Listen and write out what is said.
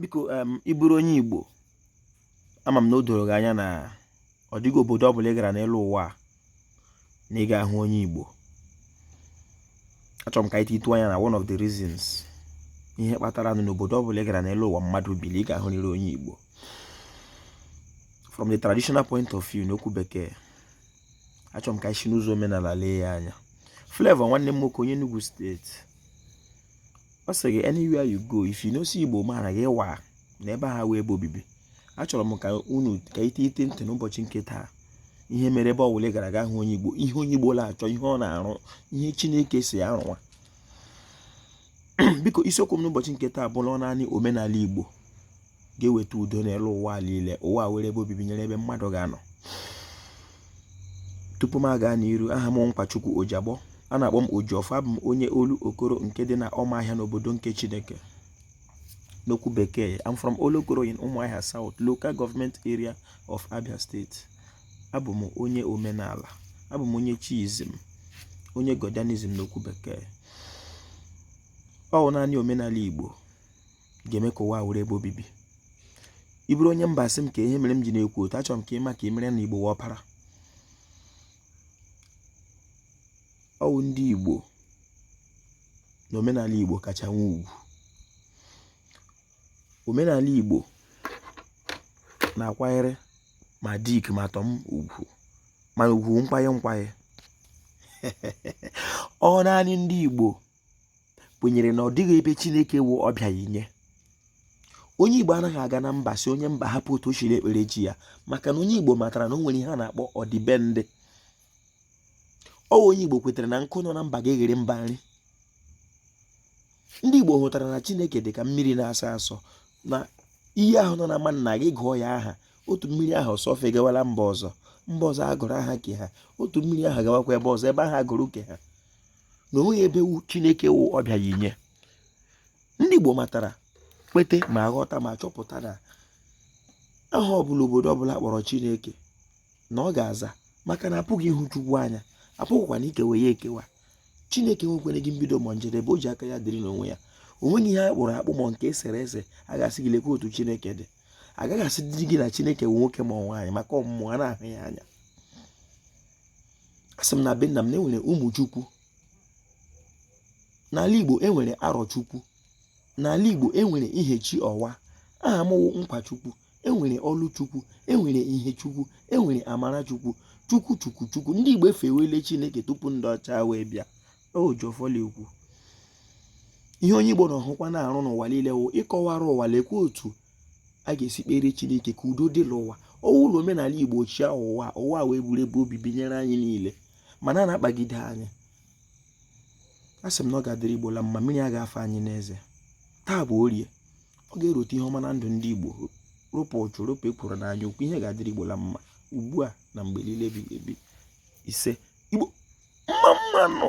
biko ị bụrụ onye igbo ama m na o doro gị anya na ọ dịghị obodo ọ bụla ị gara n'elu ụwa na ị ga-ahụ onye igbo achọrọ m ka anyị titụ anya na one of the reasons ihe kpatara nụ n'obodo ọ bụla ị gara n'elu ụwa mmadụ bi na ị ga-ahụrịrị onye igbo from the traditional point of view n'okwu bekee achọrọ m ka anyị si n'ụzọ omenala lee ya anya Flavour nwanne m nwoke onye Enugu steeti ọ sị gị anywhere you go if you no see igbo man gị waa na ebe ahụ awụghị ebe obibi achọrọ m ka unu ka ite ite ntị n'ụbọchị nke taa ihe mere ebe ọ wụla a gara a ga-ahụ onye igbo ihe onye igbo na-achọ ihe ọ na-arụ ihe chineke sị ya rụwa biko isiokwu m n'ụbọchị nke taa bụ na naanị omenala igbo ga-eweta udo n'elu ụwa niile ụwa awụrụ ebe obibi nyere ebe mmadụ ga-anọ tupu m aga n'iru aha m Nkwachukwu Ojiagbọ a na-akpọ m Ojiọfọ abụ m onye Olokoro nke dị na Ọmahịa n'obodo nke Chineke n'okwu bekee I'm from Olokoro in Umuahia South local government area of Abia State abụ m onye omenala abụ m onye chiism onye godianism n'okwu bekee ọ wụ naanị omenala Igbo ga-eme ka ụwa wụrụ ebe obibi ị bụrụ onye mba sị m kee ihe mere m ji na-ekwu otu a achọrọ m ka ị ma ka ị mara na igbo wụ ọpara ọ wụ ndị igbo na omenala igbo kacha nwee ugwu omenala igbo na-akwanyere ma Dick ma Tom ugwu mana ugwu nkwanye nkwanye ọ naanị ndị igbo kwenyere na ọ dịghị ebe Chineke wụ ọbịa ya inye onye Igbo anaghị aga na mba sị onye mba hapụ otu o siri ekpere chi ya maka na onye Igbo matara na o nwere ihe a na-akpọ ọdịbendị ọ onye Igbo kwetara na nkụ nọ na mba ga-eghere mba nri ndị Igbo hụtara na Chineke dị ka mmiri na-asọ asọ na iyi ahụ nọ n'ama nna gị gụọ ya aha otu mmiri ahụ sọfe gawala mba ọzọ mba ọzọ agụrụ aha nke ha otu mmiri ahụ gawakwa ebe ọzọ ebe ahụ agụrụ nke ha na o nweghị ebe wụ chineke wụ ọbịa ya inye ndị igbo matara kwete ma ghọta ma chọpụta na aha ọbụla obodo ọbụla kpọrọ chineke na ọ ga-aza maka na apụghị ịhụ chukwu anya apụghịkwanụ ikewa ya ekewa chineke enwekwaghị mbido ma njedebe o ji aka ya dịrị n'onwe ya o nweghị ihe a kpụrụ akpụ ma nke e sere ese a ga-asị gị lekwa otu chineke dị a gaghị asịdị gị na chineke bụ nwoke ma ọ nwaanyị maka ọ wụ mmụọ anaghị ahụ ya anya asị m na be nna m na enwere Ụmụchukwu n'ala igbo enwere Arọchukwu n'ala igbo enwere Ihechiọwa aha m wụ Nkwachukwu enwere Ọlụchukwu enwere Ihechukwu enwere Amarachukwu chukwu chukwu chukwu ndị igbo efewele chineke tupu ndị ọcha wee bịa oji ọfọ la-ekwu ihe onye igbo na-ahụkwa na-arụ n'ụwa niile wụ ịkọwara ụwa lekwa otu a ga-esi kpere chineke ka udo dị n'ụwa ọ wụnụ omenala igbo chịa ụwa ụwa wee bụrụ ebe obibi nyere anyị niile mana a na-akpagide anyị a sị m na ọ ga-adịrị igbo la mma mmiri agaghị afa anyị n'eze taa bụ orie ọ ga-erute ihe ọma na ndụ ndị igbo ropụ ụchụ ropụ ekworo na anyaukwu ihe ga-adịrị igbo la mma ugbu a na mgbe niile ebighị ebi ise igbo mma mma nụ